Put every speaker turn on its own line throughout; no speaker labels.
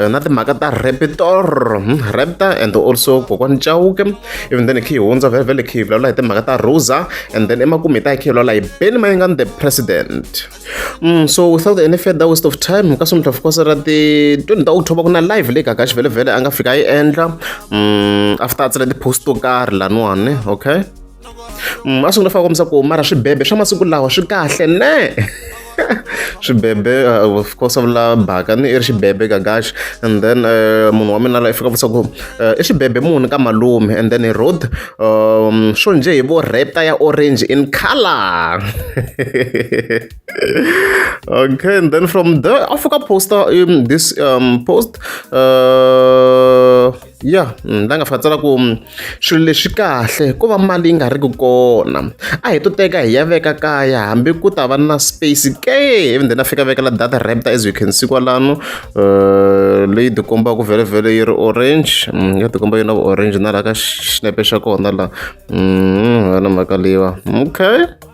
eh, na timhaka ta repitor hmm, repta and also kokwani chauke even then khi hi hundza vhele vhele khi hi vulavula hi timhaka ta rosa and then emakumu hi ta hi khi hi vulavula hi beni mayengani the president mm, so without any further waste of time ka sumhla of course ra ti 20 ta october ku na live leyi gagaxi vhele vhele a nga fika a yi endla mm, after a tsala ti-post to karhi laniwani okay mm, a swi nga fanele kombisa ku mara swibebe swa masiku lawa swi kahle ne swibebe uh, of course a vula baka ni i ri xibebe gagax and then uh, munhu wa mina la i fika vutisa ku uh, i xibebe muni ka malume and then i road um, swo nje hi vo repta ya orange in color okay and then from there a fika poster um, this um, post uh, ya mm, la nga fa tsala ku mm, swilo leswi kahle ko va mali yi nga ri ku kona a hi to teka hi ya veka kaya hambi ku ta va na space ke even then a fika vekela data rapta as you can see kwalano eh, leyi tikombaka ku vhele vhele yi ri orange mm, ya tikomba yi na orange na laha ka xinepe xa kona la wena mhaka leyiwa okay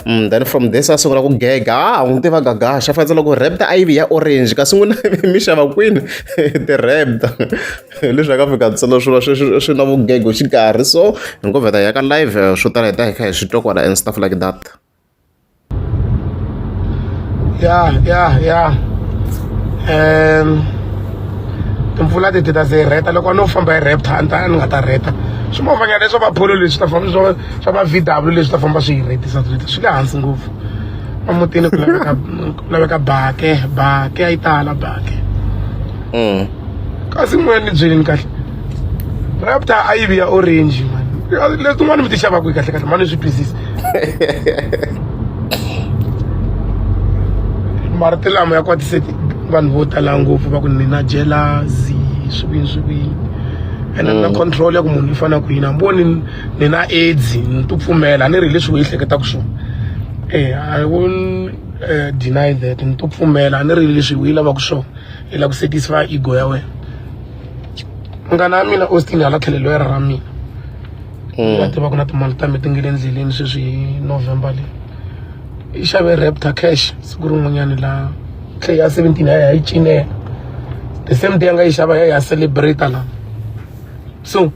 Mm, then from this a sungula ku gega a ah, n'wi tiva gaga xa fanisa loko repta a yivi ya orange kasi n'wina mi xava kwini ti-repta leswi a ka fika ntsena swi va swi na vugego xikarhi so hi ngo vheta ya ka live eh, swo tala hi ta hi kha hi swi twa kwala and stuff like that ya
ya ya um timpfula titi ta se hi reta loko a no famba hi repta a ni ta ni nga ta reta swi movanyana leswo va pholo leswi ta famba swi swa va vw leswi ta famba swi yi rhetisa rheta swi le hansi ngopfu emutini ku laveka ku laveka bake bake a yi tala bake mm. kasi moya ni byeleni kahle rapta a yi vi ya orange mani letin'wana mi ti xavaka yi kahle kahle mani swi twisisa marito lama ya kwatise vanhu vo tala ngopfu va ku ni na jealousy swikwini swikwini ene na mm. control ya ku munhu i fanele ku yini a ni voni ni na aids ni to pfumela a ni ri leswi u ehleketaka swona e i won't uh, deny that ni to pfumela a ni ri leswi u yi lavaka swona i lava ku satisfy ego ya wena munghana wa mina austin hala tlhelelo ya ra mina va mm. tiva ku na timali ta mi ti nge le endleleni sweswi hi november leyi i xave raptor cash siku rin'wanyani laha tlhe ya seventeen ya ya yi cinela the same day a nga yi xava ya ya celebrate la so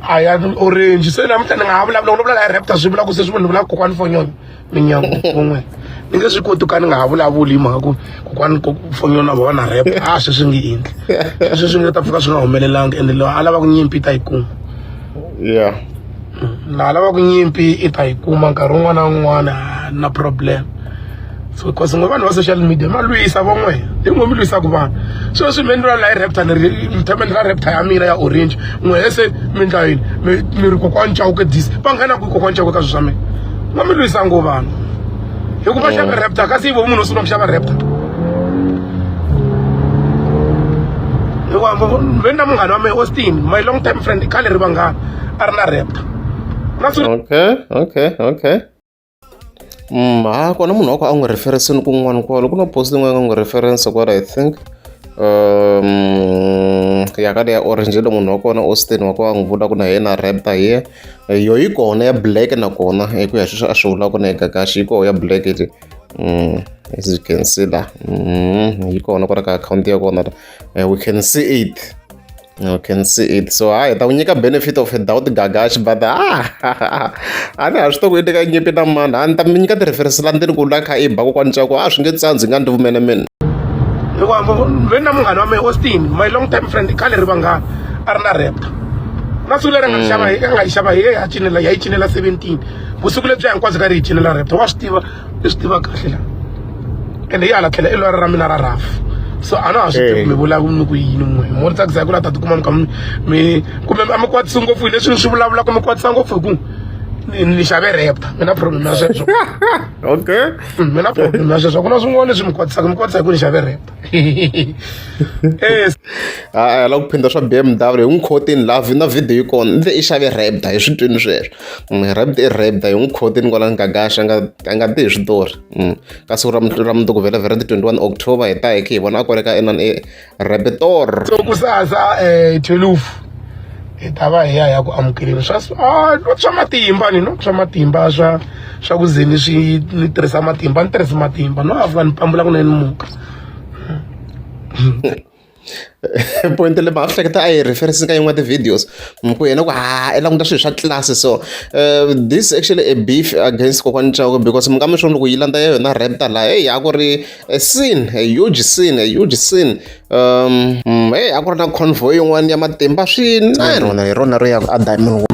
a ya orange se namuntlha ni nga ha vulavula vulavula la raptor swi vula ku se swi ni vula kokwani fonyoni minyangu kun'we ni nge swi koti ka ni nga ha vulavuli hi mhaka ku kokwani fonyoni na vona rap a swi swi nge endli sweswi swi nga ta pfuka swi nga humelelanga ende loyi a lava ku nyimpi ta yi kuma yeah laha lavaku nyimpi i ta yi kuma nkarhi wun'wana na wun'wana na problem so cause ngo vanhu va social media ma lwisa vo n'we hi ngo mi lwisaka vanhu so swi mi endliwa laha raptor ni ri mi tshama ni ra raptor ya mina ya orange n'we se mi endla yini mi mi ri kokwani chawuke dis va nghena kwi kokwani chawuke ka swi swa mina ngo mi lwisa ngo vanhu hikuva xava raptor kasi yi vo munhu u sungula ku xava raptor hikuva ve na munghana wa mehe austin my long time friend i khale ri vanghana a ri na repta okay
okay okay Mm, ha kona munhu wa ku a n'wi referensini kun'wana kwalo ku na post yin'wana n'wi reference kwala i think um ya ka leya orange lo munhu wa kona austin wa ku a n'wi vula ku na yena rapta ye yo yi kona ya black nakona hi ku ya sweswi a swi vulaka na egagaxi yi koho ya black iti um as you can see la um yi kona kwala ka akhawunti ya kona la eh, we can see it You can see it. So hi, ta unika benefit of a doubt gagash, but ah, ani a swi to ku i teka nyimpi na mani a ni ta mi nyika ti-reference la ndini ku la kha i ba kokwani cako a swi nge tsandzi nga ndzi vumene mina hikuva
veni na munghana wa mina austin my long time friend khale ri vanghana a ri na repta na siku leri a nga xava a nga yi xava hi ya cinela ya yi cinela seventeen vusiku lebyi hinkwabyo ka ri yi cinela repta wa swi tiva i swi tiva kahle la ende yi hala tlhela i lwari ra mina ra rafu so a na ha swi tivi mi vulavula ni ku yini n'we mo ri tsakisa hi ku la ta tikuma mi kha mi kumbe a mi kwatisi ngopfu hi leswi ni swi vulavulaka mi kwatisa ngopfu hi ku ni xave repta mi na problem ya sweswo okay
mm, mi na problem
ya sweswo ku na swin'wana leswi mi kwatisaka mi kwatisa hi ku ni xave repta
a lava ku phinda swa b m w hi n'wi khotini laha na video yi kona i xave repta hi switwini sweswo Rabit i rabit a hi n'wi khotin kwala Gagash a nga a nga ti hi switori mm. ka siku ra ra mundzuku vhele vhele ti 21 October hi ta hi khe hi vona a kwale ka enan e rabitor so kusasa
um eh, 12 hi ta va hi ya ya ku amukeleni swa ah, swa matimba ni no swa matimba swa swa ku ze ni swi ni tirhisa matimba ni tirhisa matimba no avuka ni pambula kunene ni muka
point leyi mhaka swi hleketa a yi reference ka yin'wana ti-videos ku yena ku ha i languta swilo swa tlilasi so uh, this actually a beef against kokwani chako because mi nga mi swo loko yi landza ya yona rapta laha heyi a ku ri a sin a huge sin a huge sin um mm, heyi a ku ri na convoy yin'wana ya matimba swinene rona hi rona ro ya a diamond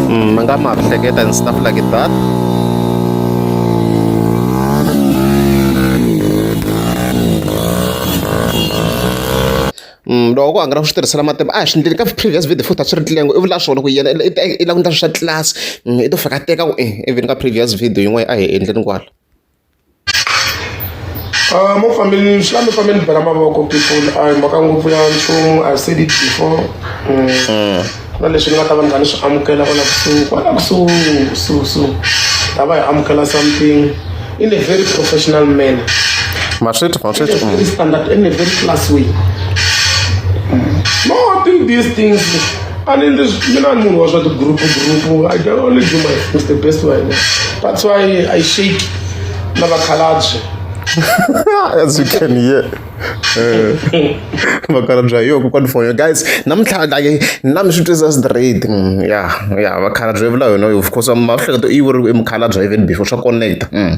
mm, mangga maaf saya dan staff lagi bat loko a nga ri swi tirhisela matimba a hi swi ndleli ka previous video futhi a swi ri ndleli yangu i vula swona ku yena i langutisa swa tlasi i to fika teka ku e even ka previous video yin'wana a hi endleni kwala
Uh, mo family swi mi family bela mavoko people a hi mhaka ngopfu ya nchumu i said it before mm. Mm. ku na leswi ni nga ta va ni nga ni swi amukela kwala kusuhi kwala kusuhi kusuhi kusuhi ta va hi amukela something in a very professional manner maswethu maswethu in a very mm. standard in a very class way no do these things I mean, this, you know, moon was not a group, group. I can only do my with the best way. That's why I shake Navakalaji. As
you can hear. vakhalabya yo kokwana fona guys namuntlha like na mi swi twisisa straight mm, ya ya vakhalabya vula yona of course mahlekato i vuriwe i mukhalabya even before swa connecta mm.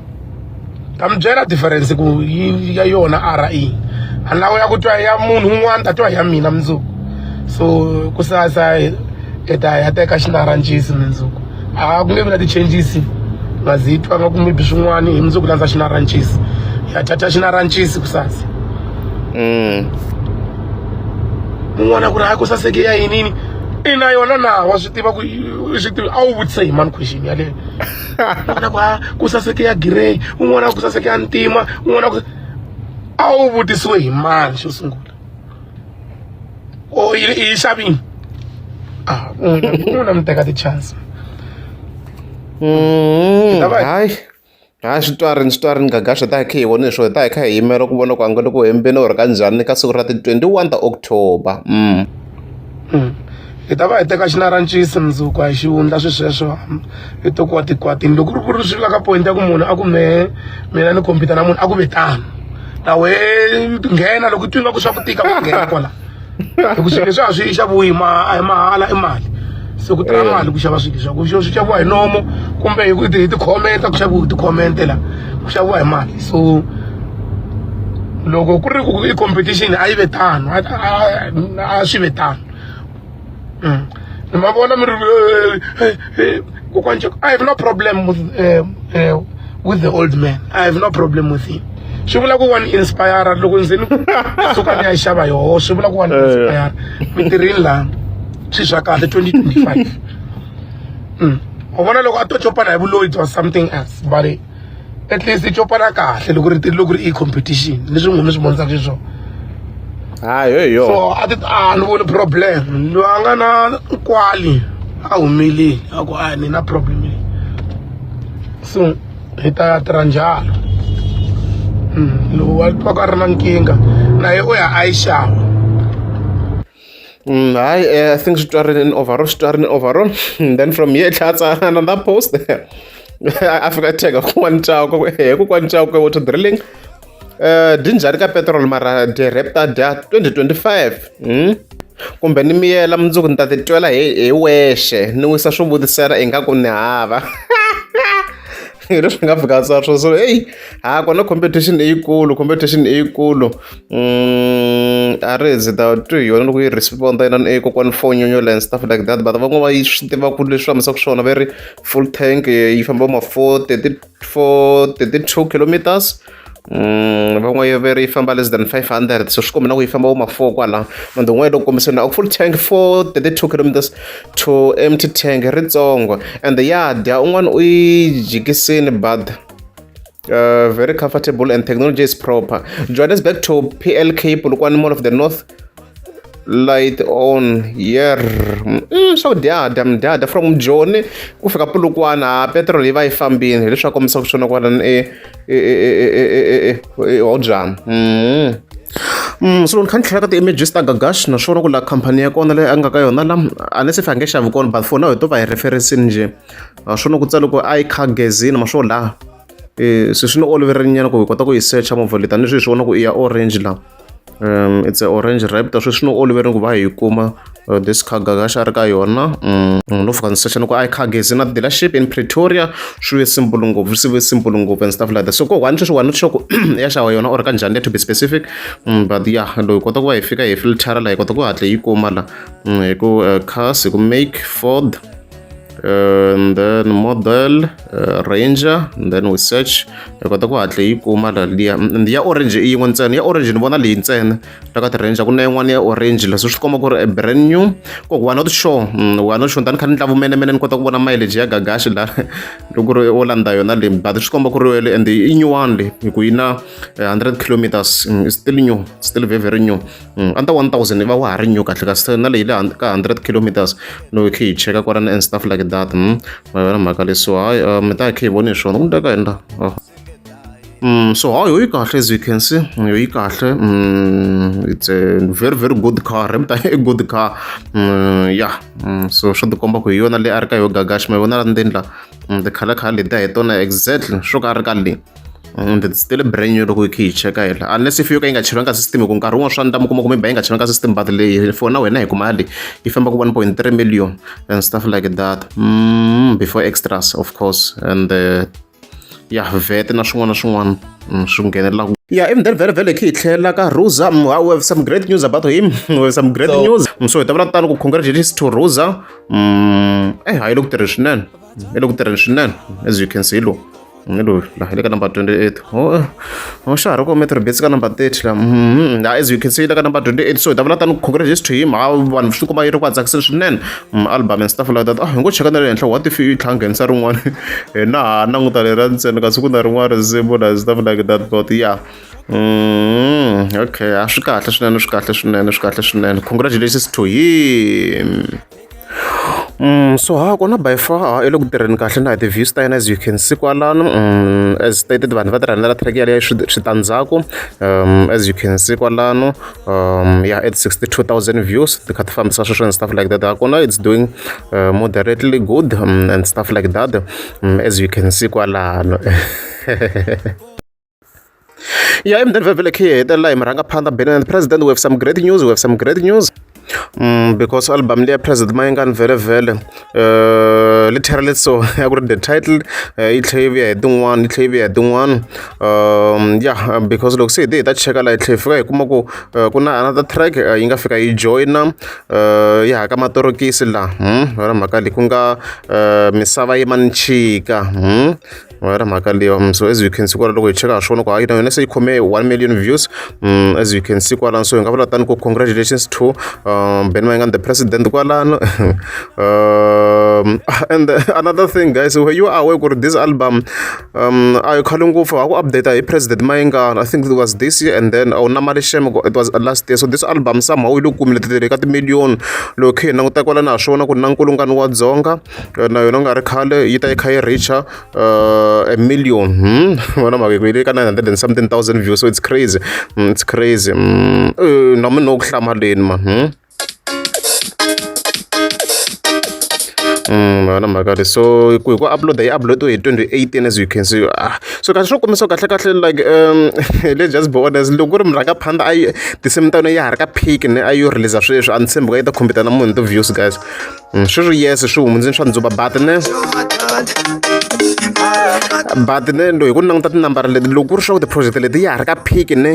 ta mi byela difference ku yi ya yona a ra i a lawo ya ku twa ya munhu un'wana ta twa ya mina mundzuku so ku sasa hi ta ya teka xinaranjisi mundzuku a ku nge vi na ti-changes nga zi twa nga ku mibi swin'wana hi mundzuku landza xinaranjisi ya thatha xinaranjisi ku sasa mm. un'wana ku ri hayi ku saseke ya yinini ina yona na wa swi tiva ku swi tiva a wu vutise hi mani question yaleyo un'wana ku ah, ku saseke ya gireyi un'wana ku saseke ya ntima un'wana ku a wu vutisiwe hi mani xo sungula o yi xavini a ah, un'wana mi teka ti-chance mm,
hayi hayi swi twarini swi twarini gaga swi ta hi kha hi vone swo hi ta hi kha hi yimela ku vona ku angele ku hembeni or ka njhani ka siku ra ti-twenty one ta october mm. hmm.
hi ta va hi teka xinarancisi mundzuku hi xivundla swisweswo hi to kuwa tikwatini loko ri ku ri swi la ka point ya ku munhu a ku mehe mina ni khompyuta na munhu a ku ve tano na we nghena loko twi nga ku swa ku tika ku nghena kwala hi ku swilo leswi a swi yi xaviwi ma a hi mahala i mali se ku tirha mali ku xava swilo swaku swi xaviwa hi nomo kumbe hi hi tikhomenta ku xaviwa hi tikhomenta la ku xaviwa hi mali so loko ku ri ku i competition a yi ve tano a swi ve tano mm. ni ma vona mi ri kokwani i have no problem with, uh, uh, with the old man i have no problem with him swi vula ku wa ni inspire loko ndzi ni suka ni ya xava yoho swi vula ku wa ni eh. inspire mi tirhini lani swi swa kahle 2025 mm. u vona loko a to copana hi vuloyi bya something else but at least i copana kahle loko ri tiri loko ri i competition leswi n'wina swi vonisa xiswona hayi
hi yona so a ti
a ni voni problem loyi a nga na kwali a humile a ku a ni na problem leyi so hi ta ya tirha njalo hmm, lowu wa twaka a ri na nkingha naye u ya a yi xava Mm,
hayi eh, i think switwarini in overall switwarini overall hmm, then from here tlhela tsala another post a fika tega kun'wana ntsako he kun'wana ntsako ka water drilling um dyi njhani ka petrol mara dyi repta dya 2025 hmm? kumbe ni miyela mundzuku ni ta titwela hi hi wexe ni wisa swo vutisela ingaku ni hava hi leswi nga fika sa swo so eyi ha kona competition leyikulu competition leyikulu mm, a ri zi ta twi hi yona loko yi respond yinani e kokwani fo nyonyola and stuff like that but van'wana va yi swi tiva ku leswi hlamusaka swona va ri full tank yi famba ma four thirty four thirty two kilometers Mm, van'we yo veri yi famba less than 500 so swi kombi na ku yi famba vo ma-four kwala mande un'wana yi loko kombiseni a full tank for 32 kilometers to empty tank ritsongo and ya dya un'wana u yi jikisini but uh, very comfortable and technology is proper johannesburg to plk polokwane mall of the north light on yer mm, swa ku dyahda mdyahda from joni ku fika pulukwana ha petrol yi va yi fambini hileswaku kombisa ku swona kwalani eodzana Mm, so ni kha ni tlhela ka ti-images ta gagash naswona ku la khampani ya kona leyi a nga ka yona la a ni se fange xavi kona but for now hi to va hi referencini njhe naswona ku tsale ku i car gazini maswo laha um se swi ni oloverenyana ku hi kota ku yi searcha movha leyi tanihi swi hi swi vona ku i ya orange laha um it's a orange raptor sweswi swi ni oloverile ku va hi yi kuma uh, this cargo ka xa ri ka yona um mm, no fika ndzi secha ni ku i cargo is in a dealership in pretoria swi ve simple ngopfu swi ve simple ngopfu and stuff like that so ko one sweswi one sure ku ya xava yona or ka njhani le to be specific um but ya loyi hi kota ku va hi fika hi filtara la hi kota ku hatla yi kuma la um hi ku uh, cars hi ku make ford and then model uh, ranger and then we search hi kota ku hatla yi kuma laliya and ya orange i yin'we ntsena ya orange ni vona leyi ntsena ta ka ti-ranger ku na yin'wana ya orange leswi swi komba ku ri a brand new ku we are not sure mm, we are not sure tani kha ni ndla vumenemene ni kota ku vona mileage ya gagashi la loko ri o landza yona le but swi komba ku ri wele and i nyuwani le hi ku yi na 100 eh, kilometers mm, still new still very very new Mm, under 1000 va wa ha ri new kahle kasi na leyi le ka 100 kilometers no khe yi cheka kwalana and stuff like that mm. ma yona mhaka leyi so hayi uh, mi ta khe yi voni hi swona ku ndeka endla oh. Mm, so hayi yoyi kahle as you can see yoyi kahle mm, it's a very very good car emta a good car mm, yeah mm, so swo tikomba ku hi yona leyi a ri ka yo gagashi ma vona la ndzeni la mm, tikhala khala letiya hi tona exactly swo ka a ri ka leyi and it's still brand new loko hi khe hi cheka hela unless if yo ka yi nga cheriwanga system hi ku nkarhi wun'wana swa ni tama kuma kumbe ba yi nga cheriwanga system but leyi for na wena hi ku mali yi famba ku 1.3 million and stuff like that mm, before extras of course and uh, ya vete na swin'wana na swin'wana mm, swi nghenelelaka Yeah, even then, very, very key. Like Rosa, mm, we have some great news about him. we have some great so, news. Mm, so, it's about time to congratulate to Rosa. Mm, eh, I looked at it, I looked at it, as you can see, look. ni loyi la hi le ka number 28 oh, oh xa ha ri kome three bits ka number 30 la mm-hmm. la as you can see yi le ka number 28 so hi ta vula tani congratulations to him ha vanhu swi kuma yi ri ku tsakiseni swinene mm, album and stuff like that ah hi ngo cheka na le henhla what if yi tlhanghenisa rin'wana hina ha languta le ra ntsena kasi ku na rin'wana risimu na stuff like that but yeah Mm, okay, a swi kahle swinene swi kahle swinene swi kahle swinene congratulations to him so ha kona by far a yi le ku tirheni kahle na hi ti-views ta yena as you can see kwalano as stated vanhu va tirhana la track yaleyo switandzhaku as you can see kwalano ya at 62000 views ti kha ti fambisa sweswo and stuff like that ha kona it's doing uh, moderately good um, and stuff like that um, as you can see kwalano ya emudeni vhevhele khe hi hetelela hi murhangaphanḓa benene president we have some great news we have some great news mm, because album leya president mayengani vhelevhele um eh, li therele so ya ku ri the title eh, yi tlhe yi vuya hi tin'wana yi tlhe yi vuya hi tin'wana um ya because loko se hi te hi ta cheka laha yi tlhe hi fika hi kuma ku eh, ku na another track yi nga fika yi joyina yi haka matorokisi laha hmm, yona mhaka leyi ku nga misava yi manchika hmm. wayira mhaka leyi um, so as you can see kwala loko hi cheka ha swona ku hayi na yona se yi khome 1 million views um, as you can see kwalano so hi nga vula tani ku congratulations to um, ben mayingani the president kwalano um, and another thing guys were you aware ku ri this album um, a yi khale ngopfu ha ku update hi president mayingani i think it was this year and then awu oh, na mali shem it was last year so this album somehow yi lo kumile titele ka timillion loko khe hi languta kwalano ha swona ku na nkulungano wa dzonga na yona ku nga ri khale yi ta yi kha yi reach-a a million vona mavito yi le ka nine hundred and something thousand views so it's crazy it's crazy na munhu no ku hlamaleni ma yona mhaka leyi so ku hi ku upload yi upload hi 2018 as you can see ah so kahle swo kombisa kahle kahle like um let's just be honest loko ku ri murhanga phanda a yi tinsimu ta yona ya ha ri ka peak ne a yo release sweswi a ni tshembi ku yi ta khompita na munhu ti-views guys Mm, swi ri yese swi hundze ni swa ndzuba batine batine lo hi ku languta tinambara leti loko ku ri swa ku tiproject leti ya ha ri ka phiki ne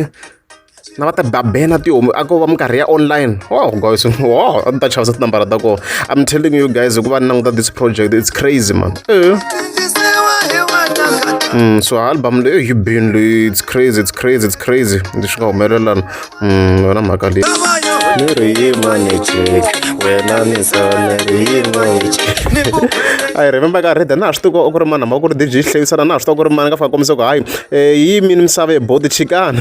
na va ta babena tihomu a ko va minkarhi ya online oh guys oh a ni ta chavisa tinambara ta kona i'm telling you guys hikuva ni languta this project it's crazy man eh. Mm, so album leyi yi bini leyi it's crazy it's crazy it's crazy leswi nga humelelana Mm, vona mhaka leyi ni ri yima ni jeki wena ni sana ri yima ni jeki i remember ka reda na ha swi tiva ku ri mani hamba ku ri dj hlevisana na ha swi tiva ku ri mani ka faka kombisa ku hayi eh, yi mini misava ye bodi chikana